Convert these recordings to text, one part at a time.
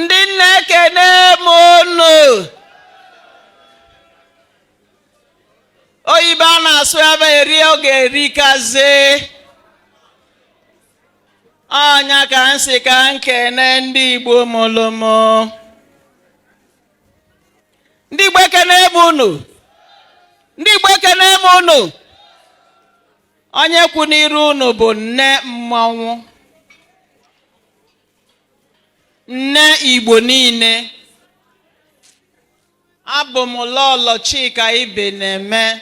ndị nna ekene m unu oyibo a na-asụ ebe eri oge erikazi ọ nya ka m sị ka m kene ndị igbo mụlụ mụ ndị igbo ekene m unu ndị igbo ekene m unu onye kwụ n'iru unu bụ nne mmanwụ nne igbo niile abụ m lọlọ chika ibeneme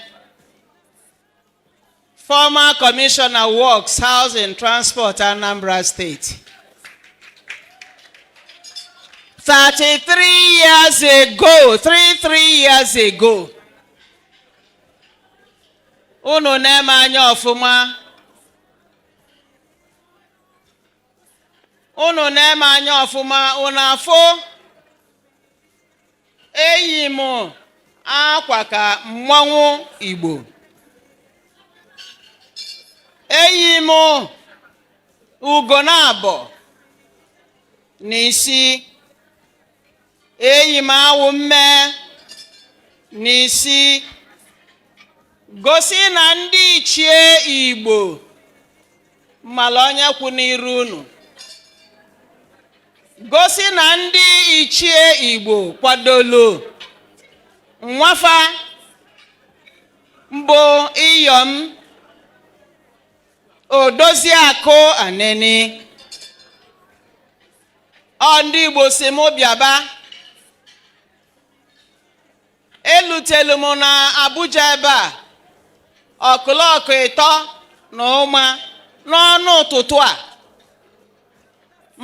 former commissioner works housing transport anambra state 33 years ago 33 years ago unu nee m anya ọfụma unu nee m anya ọfụma unu afụ eyi m akwa ka mmanwụ igbo eyi m ugo naabọ na isi eyi m awụ mme n'isi gosi na ndị ichie igbo mala onye kwụ n'iru unu gosi na ndị ichie igbo kwadolu nwa fa m bụ iyom odoziakụ aneni ọ ndị Igbo sị m bịaba elutelu m na Abuja ebe a ọkụlọkụ ịtọ na ụma n'ọnụ ụtụtụ a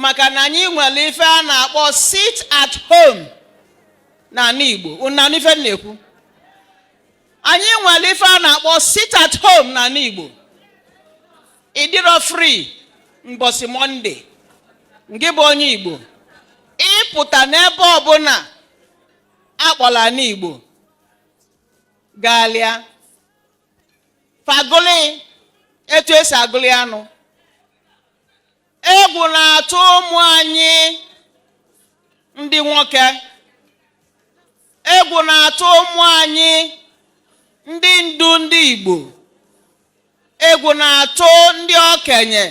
maka na anyị nwere ife a na-akpọ sit at home na anị Igbo unu anụ ife m na-ekwu anyị nwere ife a na-akpọ sit at home na anị Igbo ị dịrọ free mbọsị Monday ngị bụ onye Igbo ị pụta n'ebe ọbụla a kpọlọ anị Igbo galịa fa agụlị etu e si agụlị anụ egwu na-atụ ụmụ anyị ndị nwoke Egwu na-atụ ụmụ anyị ndị ndu ndị Igbo egwu na-atụ ndị okenye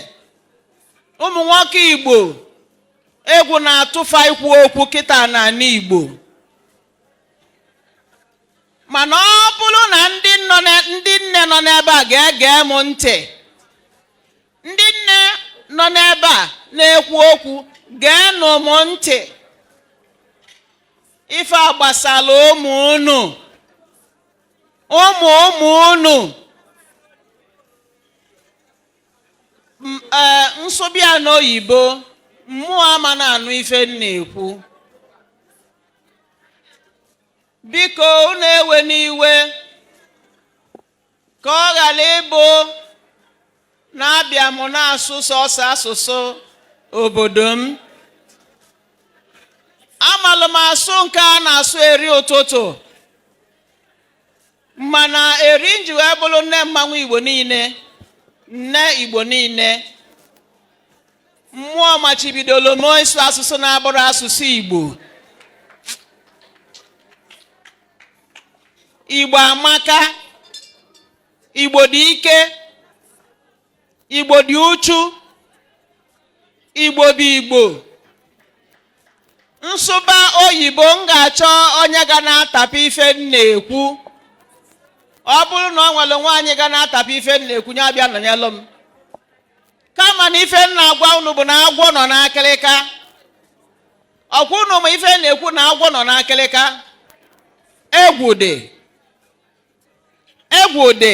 ụmụ nwoke Igbo egwu na-atụ fa ikwu okwu kịta n'anị Igbo mana ọ bụlụ na ndị nne nọ n'ebe a ga-ege m ntị ndị nne nọ n'ebe a na-ekwu okwu geenụ m ntị ife a gbasara ụmụ unu ụmụ ụmụ unu M- ee, m sụba ya n'oyibo mmụọ ama na-anụ ife m na-ekwu biko unu ewena iwe ka ọ ghara ịbụ na abịa m na-asụ sọsọ asụsụ obodo m amalụ m asụ nke a na-asụ eri ụtụtụ mana eri m ji wee bụlụ nne mmanwụ igbo niile nne igbo niile mmụọ machibidolo m ịsụ asụsụ na-abụrọ asụsụ igbo igbo amaka igbo dị ike igbo dị uchu igbo bụ igbo m sụba oyibo m ga-achọ onye ga na-atapịa ife m na-ekwu ọ bụrụ na o nwelu nwaanyị ga na-atapịa ife m na-ekwu ya bịa nọnyelụ m kama na ife m na-agwa unu bụ na agwọ nọ n'akịrịka ọkwa ụnụ ma ife m na-ekwu na agwọ nọ n'akịlịka egwu dị egwu dị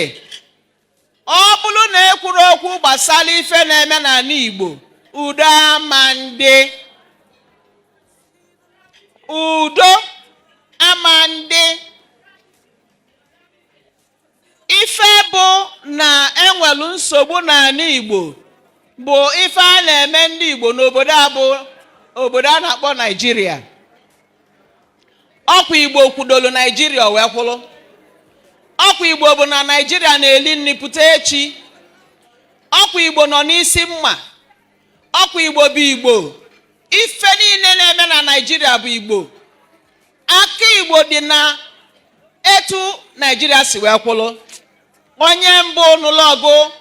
ọ bụlụ na ekwurọ okwu gbasalụ ife na-eme n'anị Igbo udo ama ndị udo ama ndị ife bụ na e nwelu nsogbu n'anị Igbo bụ ife a na-eme ndị Igbo n'obodo a bụ obodo a na-akpọ Naijiria ọkwa Igbo kwudolu Naijiria o wee kwụrụ ọkwa Igbo bụ na Naijiria na-eli nni pụta echi ọkwa Igbo nọ n'isi mma ọkwa Igbo bụ Igbo ife niile na-eme na Naijiria bụ Igbo aka igbo dị na etu naijiria si wee kwụlụ onye mbụ nụlụ ọgụ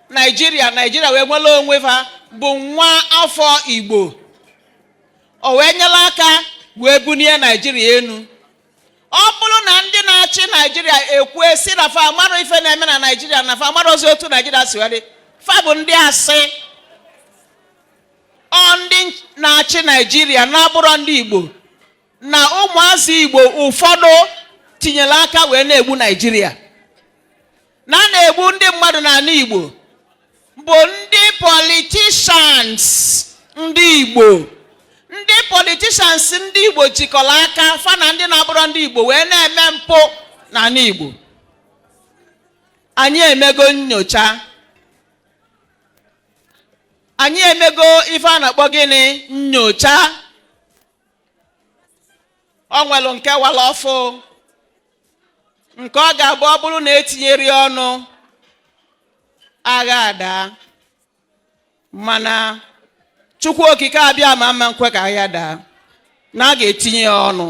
naijiria naijiria wee nwelu onwe fa bụ nwa afọ igbo o wee nyelụ aka wee bunie naijiria enu ọ bụlụ na ndị na-achị naijiria ekwue sị na fa amarọ ife na-eme na naijiria na fa amarọzi otu naijiria si wee dị fa bụ ndị asị ọ ndị na-achị naijiria na-abụrọ ndị igbo na ụmụazị Igbo ụfọdụ tinyere aka wee na-egbu Naijiria na na-egbu ndị mmadụ n'anị Igbo bụ ndị politicians ndị Igbo ndị politicians ndị Igbo jikọrọ aka fa na ndị na-abụrọ ndị Igbo wee na-eme mpụ n'anị Igbo anyị emego nyocha anyị emego ife a na-akpọ gịnị nyocha ọ nwere nke wara ọfụ nke ọ ga-abụ ọ bụrụ na etinyerọ ya ọnụ agha adaa mana Chukwu Okike Abịama ama nkwe ka agha daa na a ga-etinye ya ọnụ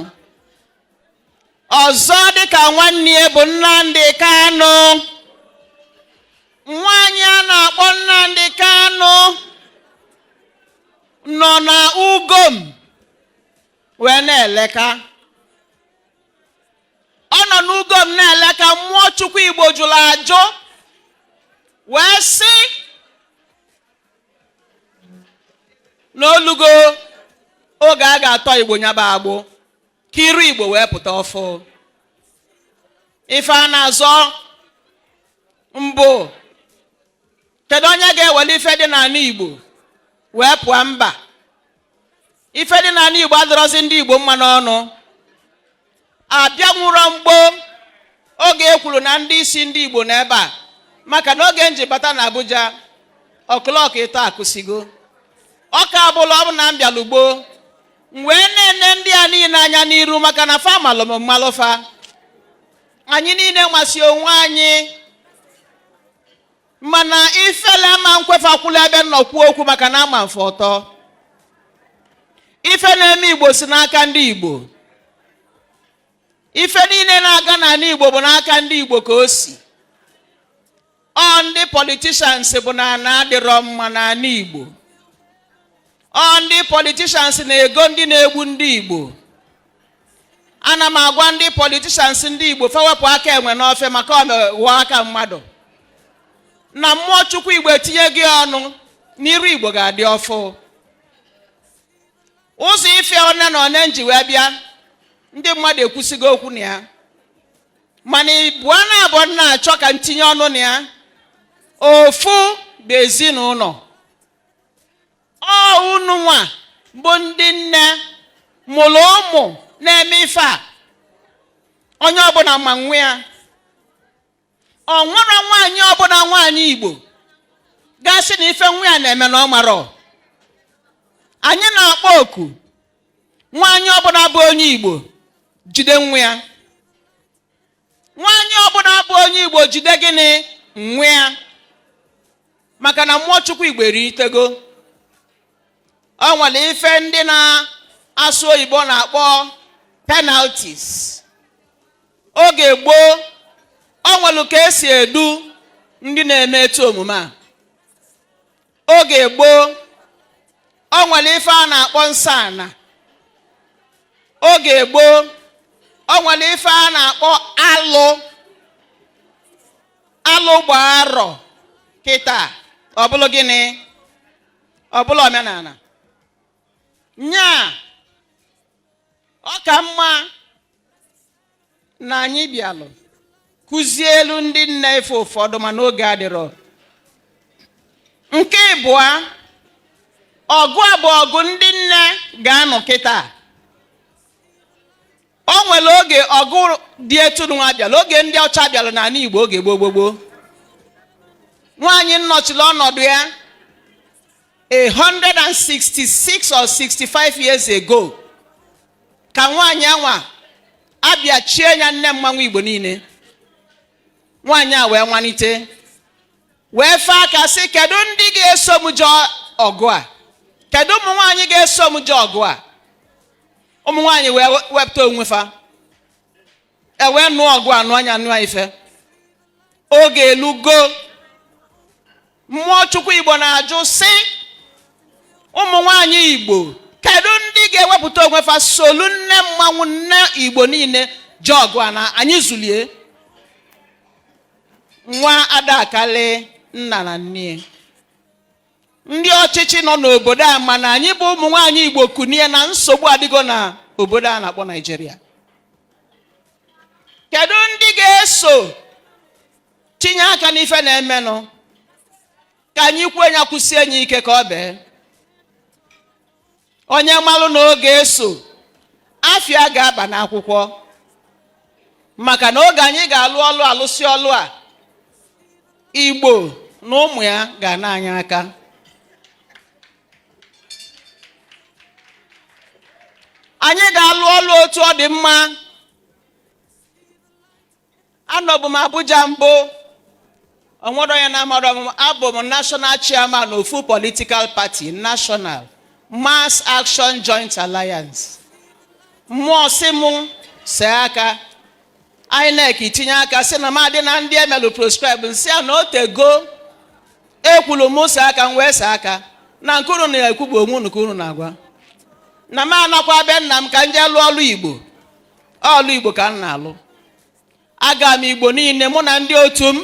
ọzọ dịka nwanne ya bụ Nnamdi Kanu nwa anyị a na-akpọ Nnamdi Kanu nọ na ugom wee na-eleka ọ nọ n'ugom na-eleka mmụọ chukwu igbo jụrụ ajụ wee sị na olugo oge a ga-atọ igbo nya bụ agbụ ka iru igbo wee pụta ọfụ ife a na-azọ mbụ Kedu onye ga-ewere ife dị n'anị Igbo wee pụọ mba? Ife dị n'anị Igbo adịrọzi ndị Igbo mma n'ọnụ. Abịanwurọ m gboo oge e kwuru na ndị isi ndị Igbo na ebe a maka na oge nji bata na Abuja o'clock ịtọ akụsigo ọ ka abụlụ ọ bụ na m bịalụ gboo m wee na-ene ndị a niile anya n'iru maka na fa malụ m m malụ fa anyị niile masị onwe anyị mana ifele ama nkwe fa kwụlụ ebe m nọ kwuo okwu maka na ama m fa ọtọ ife na-eme igbo si n'aka ndị igbo ife niile na-aga n'anị igbo bụ n'aka ndị igbo ka o si ọ ndị politicians bụ na ana adịrọ mma n'anị igbo ọ ndị politicians na-ego ndị na-egbu ndị igbo ana m agwa ndị politicians ndị igbo fa wepụ aka enwe n'ofe maka ọ ghọọ aka mmadụ na mmụọ chukwu igbo etinyego ọnụ na iru igbo ga-adị ọfụ ụzọ ife one na one nji wee bịa ndị mmadụ ekwusigo okwu na ya mana ịbụa naabọ m na-achọ ka ntinye ọnụ na ya ofu bụ ezinụnọ ọ unu nwa bụ ndị nne mụlụ ụmụ na-eme ife a onye ọbụna ma nwa ya o nwerọ nwaanyị ọbụna nwaanyị igbo ga-asị na ife nwa ya na-eme na ọ marọ anyị na-akpọ oku nwaanyị ọbụna bụ onye igbo jide nwa ya nwaanyị ọbụna bụ onye igbo jide gịnị nwa ya maka na mmụọ chukwu igbo eritego o nwelu ife ndị na-asụ oyibo na-akpọ penalties oge gboo o nwelu ka esi edu ndị na-eme ụdị omume a oge gboo o nwelu ife a na-akpọ nsọ ana oge gboo o nwelu ife a na-akpọ alụ alụ gbaa arọ kịta ọ bụlụ gịnị ọ bụlụ omenana nyaa ọ ka mma na anyị bịalụ kụzielu ndị nne ife ụfọdụ mana oge adịrọ nke ịbụa ọgụ a bụ ọgụ ndị nne ga-anụ kịta o nwere oge ọgụ dị etu nwa bịalụ oge ndị ọcha bịalụ n'ana igbo oge gboo gboo gboo nwaanyị m nọchiri ọnọdụ ya 166 or 65 years ago ka nwaanyị anwa a bịa chie ya nne mmanwụ igbo niine nwaanyị a wee nwanite wee fee aka sị kedu ndị ga-eso m jee ọgụ a kedu ụmụ nwaanyị ga-eso m jee ọgụ a ụmụ nwaanyị wee wepụta onwe fa e wee nụọ ọgụ a nụa nya nụa ife oge elugo mmụọ chukwu igbo na-ajụ sị ụmụ nwanyị igbo kedu ndị ga-ewepụta onwe fa solu nne mmanwụ nne igbo niine jee ọgụ a na anyị zulie nwa ada akalị nna na nne ndị ọchịchị nọ n'obodo a ama na anyị bụ ụmụ nwaanyị igbo kunie na nsogbu adịgo na obodo a na-akpọ naijiria kedu ndị ga-eso tinye aka n'ife na-emenụ ka anyị kwue nya kwusie nya ike ka o bee onye malụ na ọ ga-eso afa ya ga-aba n'akwụkwọ maka na oge anyị ga-alụ ọlụ a lụsịa ọlụ a igbo na ụmụ ya ga-ana anyị aka anyị ga-alụ ọlụ otu ọ dị mma anọbu m abuja mbụ o nwere onye na-amarọ m abụ m national chairman ofu political party national mass action joint alliance mmụọ sị mụ see aka inec tinye aka sị na m adị na ndị emelụ proscribe m sị ya na otego ekwulu m see aka m wee see aka na nke unu na-ekwu bụ onwe unu ka unu na-agwa na m anakwa be nna m ka m jee lụọ ọlụ igbo ọlụ igbo ka m na-alụ aga m igbo niile mụ na ndị otu m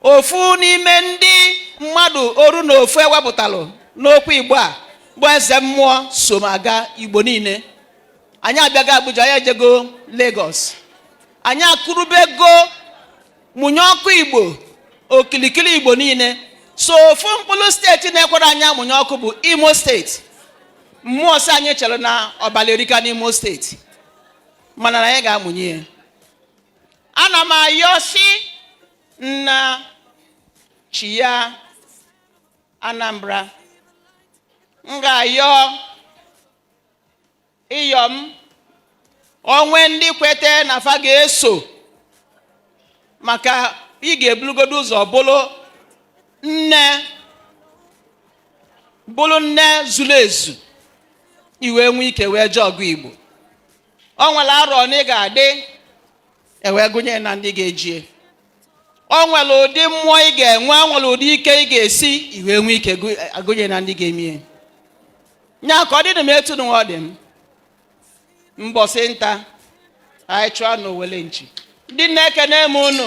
ofu n'ime ndị mmadụ oru na ofu ewepụtalụ n'okwu igbo a bụ eze mmụọ so m aga igbo niile anyị abịago abuja anyị ejego lagos anyị akụrụbego mụnye ọkụ igbo okilikili igbo niile sọ ofu mkpụrụ steeti na-ekwerọ anyị amụnye ọkụ bụ imo steeti mmụọ sị anyị chere na ọbala erika n'imo steeti mana na anyị ga-amụnye ya ana m ayọ sị nna chi ya anambra m ga-ayọ iyom o nwee ndị kwete na fa ga-eso maka ị ga-ebulugodo ụzọ bụrụ nne bụrụ nne zuru ezu ị wee nwee ike wee jee ọgụ igbo o nwere arọ one ị ga-adị e wee gụnye ya na ndị ga-ejie o nwere ụdị mmụọ ị ga-enwe o nwere ụdị ike ị ga-esi ị wee nwee ike gụ- agụnye na ndị ga-emie nya ka ọ dịlị m etu nụnwa ọ dị m mbọsị nta anyị chụọ n'owele nchi ndị nne ekene m unu